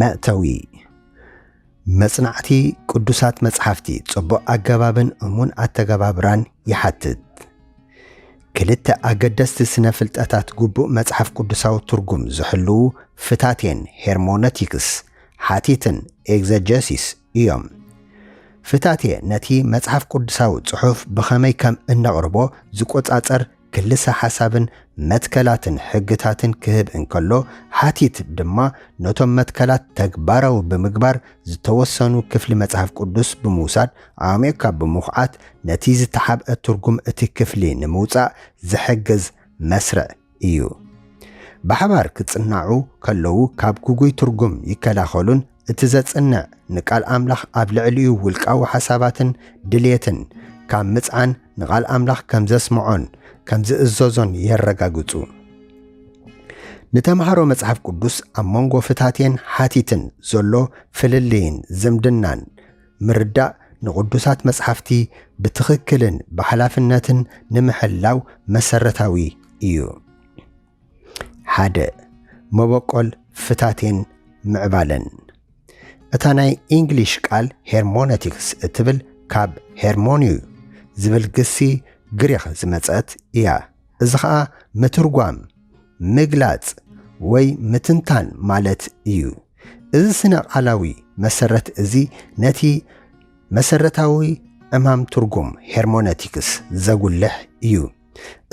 መእተዊ መጽናዕቲ ቅዱሳት መጽሓፍቲ ጽቡቕ ኣገባብን እሙን ኣተገባብራን ይሓትት። ክልተ ኣገደስቲ ስነ ፍልጠታት ግቡእ መጽሓፍ ቅዱሳዊ ትርጉም ዝሕልዉ ፍታቴን ሄርሞነቲክስ፣ ሓቲትን ኤግዘጀሲስ እዮም። ፍታቴ ነቲ መጽሓፍ ቅዱሳዊ ጽሑፍ ብኸመይ ከም እነቕርቦ ዝቆጻጸር ክልሰ ሓሳብን መትከላትን ሕግታትን ክህብ እንከሎ፣ ሓቲት ድማ ነቶም መትከላት ተግባራዊ ብምግባር ዝተወሰኑ ክፍሊ መጽሓፍ ቅዱስ ብምውሳድ ኣዕሚቝካ ብምዅዓት ነቲ ዝተሓብአ ትርጕም እቲ ክፍሊ ንምውጻእ ዝሕግዝ መስርዕ ኢዩ። ብሓባር ክጽናዑ ከለዉ ካብ ግጉይ ትርጕም ይከላኸሉን እቲ ዘጽንዕ ንቃል ኣምላኽ ኣብ ልዕሊኡ ውልቃዊ ሓሳባትን ድልየትን ካብ ምጽዓን ንቓል ኣምላኽ ከም ዘስምዖን ከም ዝእዘዞን የረጋግጹ። ንተምሃሮ መጽሓፍ ቅዱስ ኣብ መንጎ ፍታቴን ሓቲትን ዘሎ ፍልልይን ዝምድናን ምርዳእ ንቕዱሳት መጽሓፍቲ ብትኽክልን ብሓላፍነትን ንምሕላው መሰረታዊ እዩ። ሓደ መበቆል ፍታቴን ምዕባለን እታ ናይ ኢንግሊሽ ቃል ሄርሞነቲክስ እትብል ካብ ሄርሞኒዩ ዝብል ግሲ ግሪኽ ዝመጸት እያ። እዚ ኸኣ ምትርጓም፣ ምግላጽ ወይ ምትንታን ማለት እዩ። እዚ ስነ-ቃላዊ መሰረት እዚ ነቲ መሰረታዊ ዕማም ትርጉም ሄርሞነቲክስ ዘጉልሕ እዩ።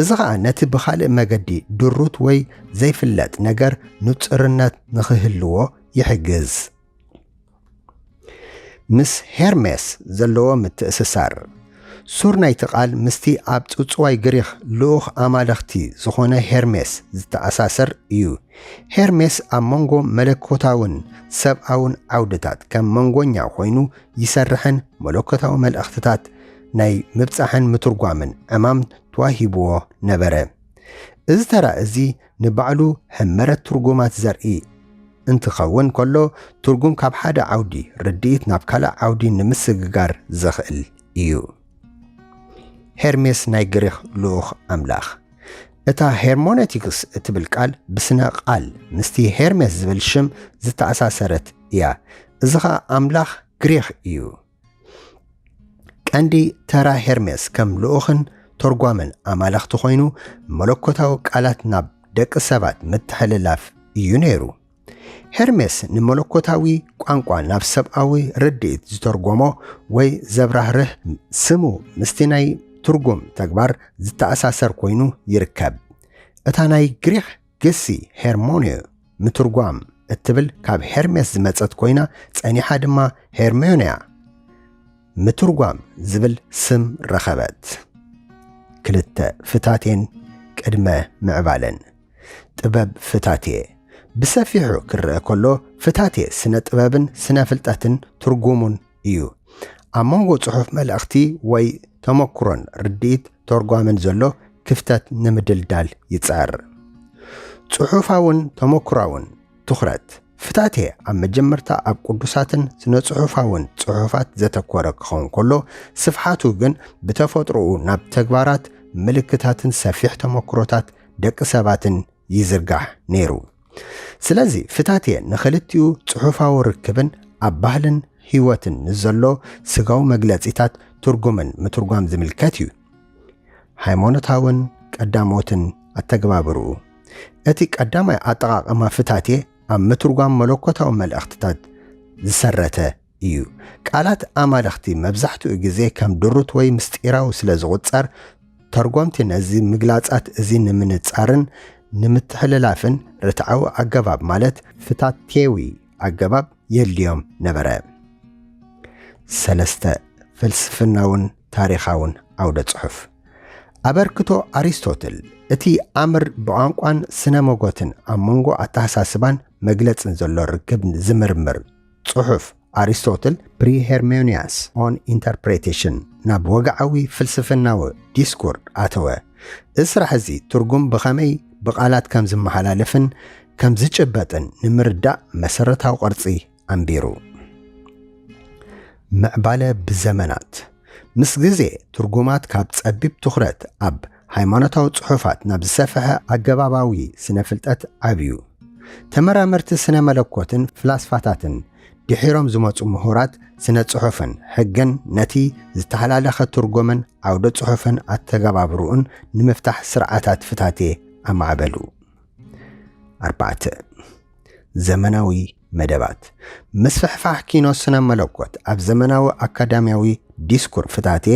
እዚ ኸኣ ነቲ ብኻልእ መገዲ ድሩት ወይ ዘይፍለጥ ነገር ንጹርነት ንኺህልዎ ይሕግዝ። ምስ ሄርሜስ ዘለዎ ምትእስሳር። ሱር ናይቲ ቓል ምስቲ ኣብ ጽውጽዋይ ግሪኽ ልኡኽ ኣማልኽቲ ዝዀነ ሄርሜስ ዝተኣሳሰር እዩ። ሄርሜስ ኣብ መንጎ መለኮታውን ሰብኣውን ዓውድታት ከም መንጎኛ ዀይኑ ይሰርሕን መለኮታዊ መልእኽትታት ናይ ምብጻሕን ምትርጓምን ዕማም ተዋሂብዎ ነበረ። እዚ ተራ እዚ ንባዕሉ ሕመረት ትርጉማት ዘርኢ እንትኸውን ከሎ ትርጉም ካብ ሓደ ዓውዲ ርድኢት ናብ ካልእ ዓውዲ ንምስግጋር ዘኽእል እዩ። ሄርሜስ ናይ ግሪኽ ልኡኽ ኣምላኽ እታ ሄርሞነቲክስ እትብል ቃል ብስነ ቃል ምስቲ ሄርሜስ ዝብል ሽም ዝተኣሳሰረት እያ። እዚ ኸኣ ኣምላኽ ግሪኽ እዩ። ቀንዲ ተራ ሄርሜስ ከም ልኡኽን ተርጓምን ኣማልኽቲ ኮይኑ መለኮታዊ ቃላት ናብ ደቂ ሰባት ምትሕልላፍ እዩ ነይሩ። ሄርሜስ ንመለኮታዊ ቋንቋ ናብ ሰብኣዊ ርድኢት ዝተርጎሞ ወይ ዘብራህርህ ስሙ ምስቲ ናይ ትርጉም ተግባር ዝተኣሳሰር ኮይኑ ይርከብ። እታ ናይ ግሪኽ ግሲ ሄርሞንዮ፣ ምትርጓም፣ እትብል ካብ ሄርሜስ ዝመጸት ኮይና ጸኒሓ ድማ ሄርሜንያ፣ ምትርጓም፣ ዝብል ስም ረኸበት። ክልተ ፍታቴን ቅድመ ምዕባለን። ጥበብ ፍታቴ ብሰፊሑ ክርኣ ከሎ ፍታቴ ስነ ጥበብን ስነ ፍልጠትን ትርጉሙን እዩ። ኣብ መንጎ ጽሑፍ መልእኽቲ ወይ ተመኩሮን ርድኢት ተርጓምን ዘሎ ክፍተት ንምድልዳል ይጽዕር። ጽሑፋውን ተመኩራውን ትኹረት ፍታቴ ኣብ መጀመርታ ኣብ ቅዱሳትን ስነ-ጽሑፋውን ጽሑፋት ዘተኮረ ክኸውን ከሎ፣ ስፍሓቱ ግን ብተፈጥሮኡ ናብ ተግባራት ምልክታትን ሰፊሕ ተመኩሮታት ደቂ ሰባትን ይዝርጋሕ ነይሩ። ስለዚ ፍታትየ ንክልቲኡ ጽሑፋዊ ርክብን ኣብ ባህልን ህይወትን ንዘሎ ስጋዊ መግለጺታት ትርጉምን ምትርጓም ዝምልከት እዩ። ሃይማኖታውን ቀዳሞትን ኣተገባብርኡ እቲ ቀዳማይ ኣጠቓቕማ ፍታትየ ኣብ ምትርጓም መለኮታዊ መልእኽትታት ዝሰረተ እዩ። ቃላት ኣማልኽቲ መብዛሕትኡ ግዜ ከም ድሩት ወይ ምስጢራዊ ስለ ዝቝጸር፣ ተርጐምቲ ነዚ ምግላጻት እዚ ንምንጻርን ንምትሕልላፍን ርትዓዊ ኣገባብ ማለት ፍታትየዊ ኣገባብ የድልዮም ነበረ። ሰለስተ፣ ፍልስፍናውን ታሪኻውን ዓውደ-ጽሑፍ። ኣበርክቶ ኣሪስቶትል፣ እቲ ኣምር ብቋንቋን ስነ-መጐትን ኣብ መንጎ ኣተሓሳስባን መግለጽን ዘሎ ርክብ ዝምርምር፣ ጽሑፍ ኣሪስቶትል ፕሪሄርሜንያስ ኦን ኢንተርፕሬቴሽን ናብ ወግዓዊ ፍልስፍናዊ ዲስኩር ኣተወ። እዚ ስራሕ እዚ ትርጉም ብኸመይ ብቓላት ከም ዝመሓላለፍን ከም ዝጭበጥን ንምርዳእ መሰረታዊ ቅርጺ ኣንቢሩ። ምዕባለ ብዘመናት ምስ ግዜ ትርጉማት ካብ ጸቢብ ትኹረት ኣብ ሃይማኖታዊ ጽሑፋት ናብ ዝሰፍሐ ኣገባባዊ ስነ ፍልጠት ዓብዩ። ተመራመርቲ ስነ መለኮትን ፍላስፋታትን ድሒሮም ዝመጹ ምሁራት ስነ ጽሑፍን ሕግን ነቲ ዝተሓላለኸ ትርጉምን ዓውደ ጽሑፍን ኣተገባብርኡን ንምፍታሕ ስርዓታት ፍታቴ ኣማዕበሉ። ኣርባዕተ፣ ዘመናዊ መደባት ምስፍሕፋሕ ኪኖ ስነ መለኮት ኣብ ዘመናዊ ኣካዳምያዊ ዲስኩር ፍታቴ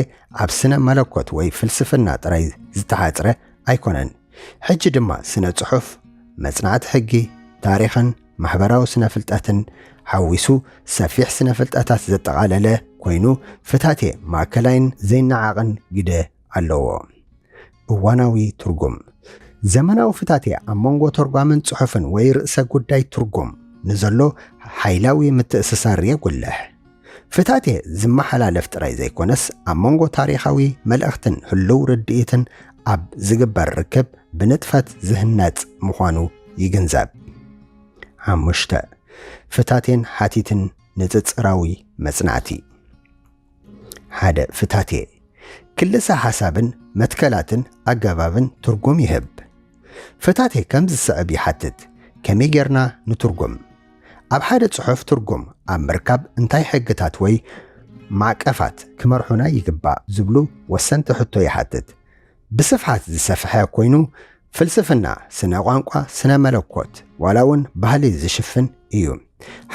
ኣብ ስነ መለኮት ወይ ፍልስፍና ጥራይ ዝተሓጽረ ኣይኮነን። ሕጂ ድማ ስነ ጽሑፍ፣ መጽናዕቲ ሕጊ፣ ታሪኽን ማሕበራዊ ስነ ፍልጠትን ሓዊሱ ሰፊሕ ስነ ፍልጠታት ዘጠቓለለ ኮይኑ ፍታቴ ማእከላይን ዘይነዓቕን ግደ ኣለዎ። እዋናዊ ትርጉም፣ ዘመናዊ ፍታትያ ኣብ መንጎ ተርጓምን ጽሑፍን ወይ ርእሰ ጉዳይ ትርጉም ንዘሎ ሓይላዊ ምትእስሳር የጉልሕ። ፍታትየ ዝመሓላለፍ ጥራይ ዘይኮነስ ኣብ መንጎ ታሪኻዊ መልእኽትን ህሉው ርድኢትን ኣብ ዝግበር ርክብ ብንጥፈት ዝህነጽ ምዃኑ ይግንዘብ። ሓሙሽተ፣ ፍታቴን ሓቲትን ንጽጽራዊ መጽናዕቲ። ሓደ ፍታቴ ክልሰ ሓሳብን መትከላትን ኣገባብን ትርጉም ይህብ። ፍታቴ ከም ዝስዕብ ይሓትት፣ ከመይ ጌርና ንትርጉም? ኣብ ሓደ ጽሑፍ ትርጉም ኣብ ምርካብ እንታይ ሕግታት ወይ ማዕቀፋት ክመርሑና ይግባእ ዝብሉ ወሰንቲ ሕቶ ይሓትት። ብስፍሓት ዝሰፍሐ ኮይኑ ፍልስፍና፣ ስነ ቋንቋ፣ ስነ መለኮት ዋላ እውን ባህሊ ዝሽፍን እዩ።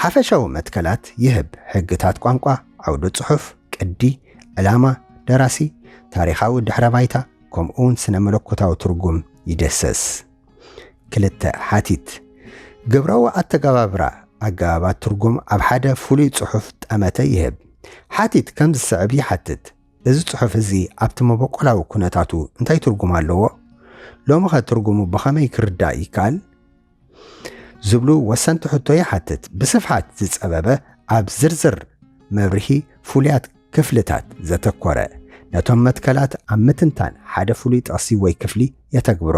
ሓፈሻዊ መትከላት ይህብ፣ ሕግታት ቋንቋ፣ ዓውደ ጽሑፍ፣ ቅዲ፣ ዕላማ ደራሲ፣ ታሪኻዊ ድሕረ ባይታ ከምኡ እውን ስነ መለኮታዊ ትርጉም ይደሰስ። ክልተ ሓቲት ግብራዊ ኣተገባብራ ኣገባባት ትርጉም ኣብ ሓደ ፍሉይ ጽሑፍ ጠመተ ይህብ። ሓቲት ከም ዝስዕብ ይሓትት። እዚ ጽሑፍ እዚ ኣብቲ መበቆላዊ ኩነታቱ እንታይ ትርጉም ኣለዎ? ሎምኸ ትርጉሙ ብኸመይ ክርዳእ ይከኣል? ዝብሉ ወሰንቲ ሕቶ ይሓትት። ብስፍሓት ዝጸበበ ኣብ ዝርዝር መብርሂ ፍሉያት ክፍልታት ዘተኮረ፣ ነቶም መትከላት ኣብ ምትንታን ሓደ ፍሉይ ጥቕሲ ወይ ክፍሊ የተግብሮ።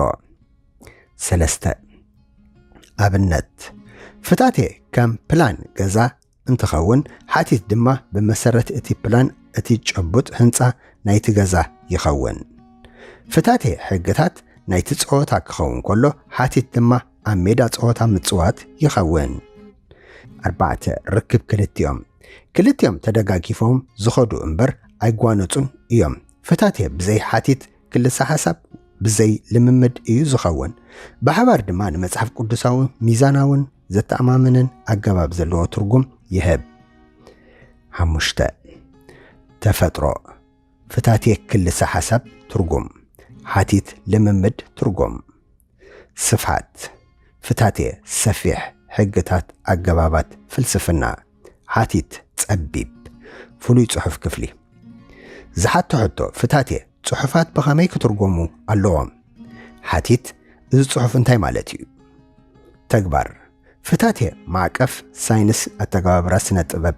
ሰለስተ። ኣብነት፣ ፍታቴ ከም ፕላን ገዛ፣ እንትኸውን ሓቲት ድማ ብመሰረት እቲ ፕላን እቲ ጭቡጥ ህንፃ ናይቲ ገዛ ይኸውን። ፍታቴ ሕግታት ናይቲ ፀወታ ክኸውን ከሎ ሓቲት ድማ ኣብ ሜዳ ፀወታ ምፅዋት ይኸውን። ኣርባዕተ፣ ርክብ ክልቲኦም ክልቲኦም ተደጋጊፎም ዝኸዱ እምበር ኣይጓነፁን እዮም። ፍታቴ ብዘይ ሓቲት ክልሰ ሓሳብ ብዘይ ልምምድ እዩ ዝኸውን። ብሓባር ድማ ንመጽሓፍ ቅዱሳዊ ሚዛናውን ዘተኣማምንን ኣገባብ ዘለዎ ትርጉም ይህብ። ሓሙሽተ ተፈጥሮ ፍታቴ ክልሰ ሓሳብ ትርጉም ሓቲት ልምምድ ትርጉም ስፍሓት፣ ፍታቴ፣ ሰፊሕ፣ ሕግታት፣ ኣገባባት፣ ፍልስፍና፣ ሓቲት፣ ጸቢብ፣ ፍሉይ ጽሑፍ ክፍሊ። ዝሓቶ ሕቶ፣ ፍታቴ፣ ጽሑፋት ብኸመይ ክትርጎሙ ኣለዎም? ሓቲት፣ እዚ ጽሑፍ እንታይ ማለት እዩ? ተግባር፣ ፍታቴ ማዕቀፍ ሳይንስ ኣተገባብራ ስነ ጥበብ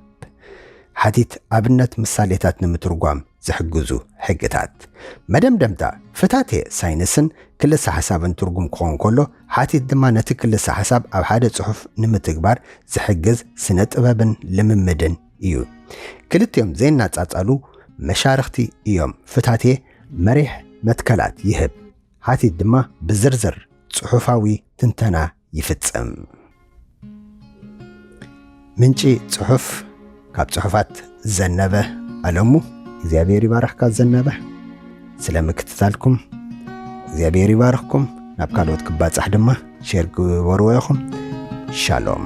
ሓቲት ኣብነት ምሳሌታት ንምትርጓም ዝሕግዙ ሕግታት። መደምደምታ ፍታቴ ሳይንስን ክልሰ ሓሳብን ትርጉም ክኾን ከሎ ሓቲት ድማ ነቲ ክልሰ ሓሳብ ኣብ ሓደ ጽሑፍ ንምትግባር ዝሕግዝ ስነ ጥበብን ልምምድን እዩ። ክልቲኦም ዘይናጻጻሉ መሻርኽቲ እዮም። ፍታቴ መሪሕ መትከላት ይህብ ሓቲት ድማ ብዝርዝር ጽሑፋዊ ትንተና ይፍጸም። ምንጪ ጽሑፍ ካብ ጽሑፋት ዘነበ ኣለሙ። እግዚኣብሔር ይባርኽካ ዘነበ ስለ ምክትታልኩም እግዚኣብሔር ይባርኽኩም። ናብ ካልኦት ክባጻሕ ድማ ሼር ግበርዎ ኢኹም። ሻሎም